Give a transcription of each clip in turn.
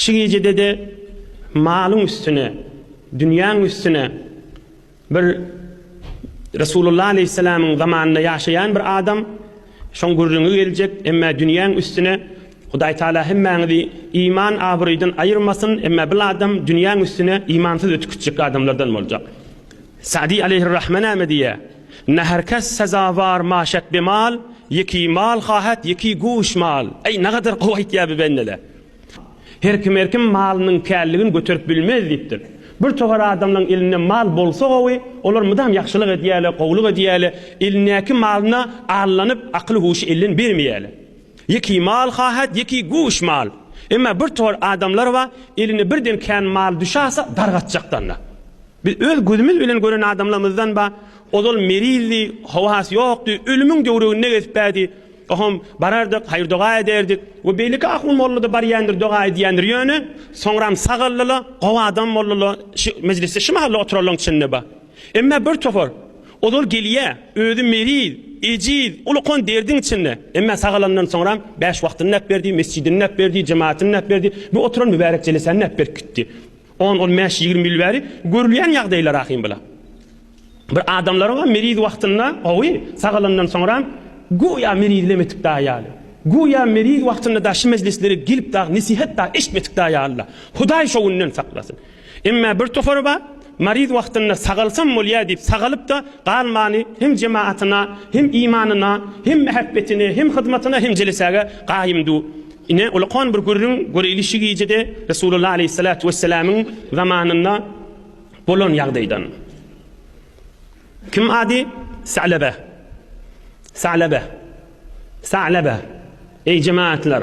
Şu gijede-de malyň üstüne, dünýäň üstüne bir Resulullah aleýhissalamyň zamanynda ýaşaýan bir adam şoň gürrüňi geljek, emmä dünýäň üstüne Hudaý Taala hemmäňizi iman abraýdan aýyrmasyn, emmä bil adam dünýäň üstüne imansyz ötüp gitjek adamlardan boljak. Sa'dy aleýhir-rahme näme diýýär? Ne her kes sezawar maşek be mal, Ýeki mal hahet, ýeki guş mal. Eý, nagadar gowy aýtýar bi bendele. Her kim her kim malynyň källigini göterip bilmez diýipdir. Bir togar adamlaň elinde mal bolsa gowy, olar mydam ýagşylyk edýäle, gowulyk edýäle, elindäki malyna allanyp, akyly-huşy elden bermeýäle. Ýeki mal haýhat, ýeki guş mal. Emma bir tor adamlar bar, eline birden kän mal düşäse dargatjakdanda. Biz öz gözümiz bilen gören adamlarymyzdan bar, ozal merizdi, howasy ýokdy, ölümiň döwreginde gezip bärdi. Ohom, barardyk, haýyr-doga ederdik. We beýleki ahun mollada barýandyr, doga edýändir. Ýöne, soňram sagaldylar, gowy adam boldular, şu mejlisde şu mahal-da oturalyň içinde bar. Emma bir topar, Ozal gelýä, özi meriz, ejiz, uly-kon derdiň içinde. Emma sagalanyndan soňram bäş wagtyny näp berdi, mesjidini näp berdi, jematyny näp berdi, bu oturan mübärek jelesäni näp berip gitdi. On, on bäş, ýigrimi ýyl bäri görülýän ýagdaýlar ahym bula. Bir adamlaryňam meriz wagtynda, hawy, sagalanyndan soňram göýä merizlem etip dagy ýaly. Göýä meriz wagtynda-da şu mejlislere gelip dagy nesihat dagy eşitmedik dagy ýaly-la. Hudaý şo günden saklasyn. Emma bir topary bar, maryz wagtynda sagalsam bolýa diýip sagalyp-da galmany hem jematyna, hem imanyna, hem mähebbetine, hem hyzmatyna, hem jelesäge gaýymdy. Ine, ulakan bir gürrüň, göreýli şi gijede Resulullah aleýhissalatu wesselamyň zamanynda bolan ýagdaýdan. Kim ady? Salaba. Salaba. Salaba. Eý jematlar!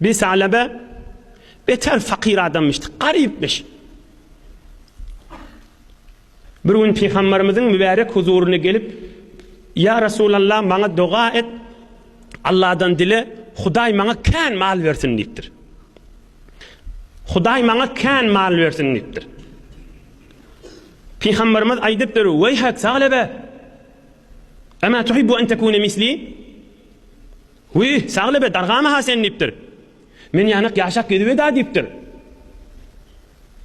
Bir Salebe beter fakyr adamyşdy, garypmyş. Bir gün Pygamberimiziň mübärek huzuryna gelip, Ýa Resulallah, maňa doga et, Allahdan dile, Hudaý maňa kän mal bersin diýipdir. Hudaý maňa kän mal bersin diýipdir. Pygamberimiz aýdypdyr, "Weýhak Salebe, Ama tuhibbu an takuna misli? Wiý, Saglybe, dargama-ha sen diýipdir. Men ýanak ýaşap gezibed-ä diýipdir.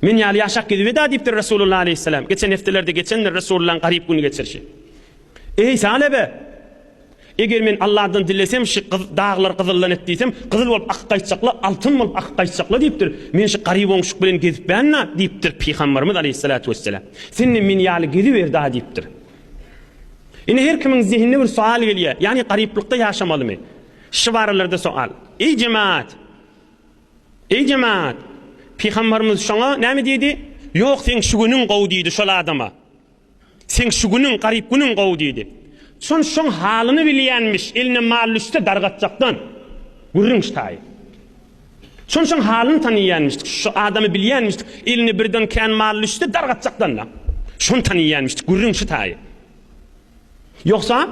Men ýaly ýaşap gezibed-ä diýipdir Resulullah aleýhissalam. Geçen hepdelerde geçendir Resulullahyň garyp gün geçirişi. Eý, Saglybe! Eger men Allahdan dilesem, şu daglar gyzyldan et diýsem, gyzyl bolup akyp gaýtjak-la, altyn bolup akyp gaýtjak-la diýipdir. Men şu garyp oňşuk bilen gezipmen-ä diýipdir Pygambarymyz aleýhissalatu wessalam. Sen hem men ýaly geziber-dä diýipdir. Indi her kimiň zehinine bir soal gelýär, ýagny garyplykda ýaşamalymy? Şu baralarda soal. Eý jemaat! Eý jemaat! Pygambarymyz şoňa näme diýdi? Ýok seň şu günüň gowy diýdi şol adama. Seň şu günüň garyp günüň gowy diýdi. Şon şoň halyny bilýänmiş, eline mal düşse dargatjakdan. Gürrüň ştaýy. Şunçun halyny taniýenmişdik, şu adamy bilýenmişdik, eline birden kän mal düşdi, dar gatjakdan-da. Şuny taniýenmişdik, gürrüň şu taýy. Ýogsa,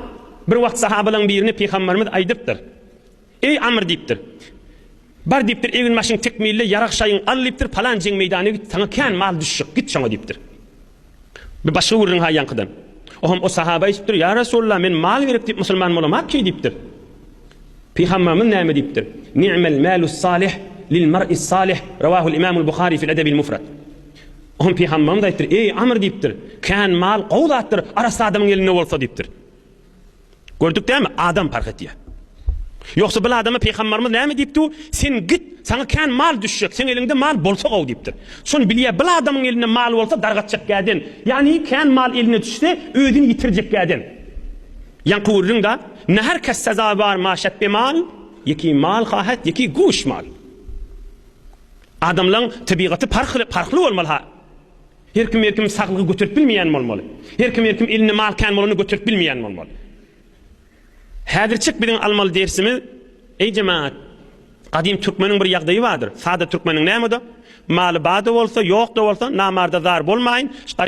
bir wagt sahabalaň birine Pygamberimiz aýdypdyr. Eý Amr diýipdir. Bar diýipdir, egin-başyňy tekmille, ýarag-şaýyňy al diýipdir, palan jeň meýdana git, saňa kän mal düşjek, git şoňa diýipdir. Bir başga gürrüň ha ýaňkydan. O hem o sahaba eşitdir, ýa Resulullah men mal gerek diýip musulman bolamak ki diýipdir. Pygamberimiz näme diýipdir? Ni'mel malus salih lil mar'is salih. Rawahul imamul Buhari fil edebil mufrad. O hem pygamberimiz aýtdyr, eý Amr diýipdir, kän mal gowy zatdyr, arassa adamyň elinde bolsa diýipdir. Gördük dämi adam parh etýär. Ýogsa bil adama peýgamberimiz näme diýipdi? Sen git, saňa kän mal düşjek, seň eliňde mal bolsa gowy diýipdir. Şony bilýär, bil adamyň elinde mal bolsa dargatjak gäden. Ýagny kän mal eline düşse özüni ýitirjek gäden. Ýaňky gürrüň da, ne her kes sezawar maşat be mal, ýeki mal hahat, ýeki guş mal. Adamlaň tebigaty parh parhly bolmaly ha. Her kim her kim saglygy göterip bilmeýän bolmaly. Her kim her kim elinde mal kän bolanda göterip bilmeýän bolmaly. Häzirçik biziň almaly dersimiz eý jemagat Gadym türkmeniň bir ýagdaýy bardyr. Sada türkmeniň näme-de, maly bada bolsa, ýok-da bolsa, namarda zar bolmaýyn.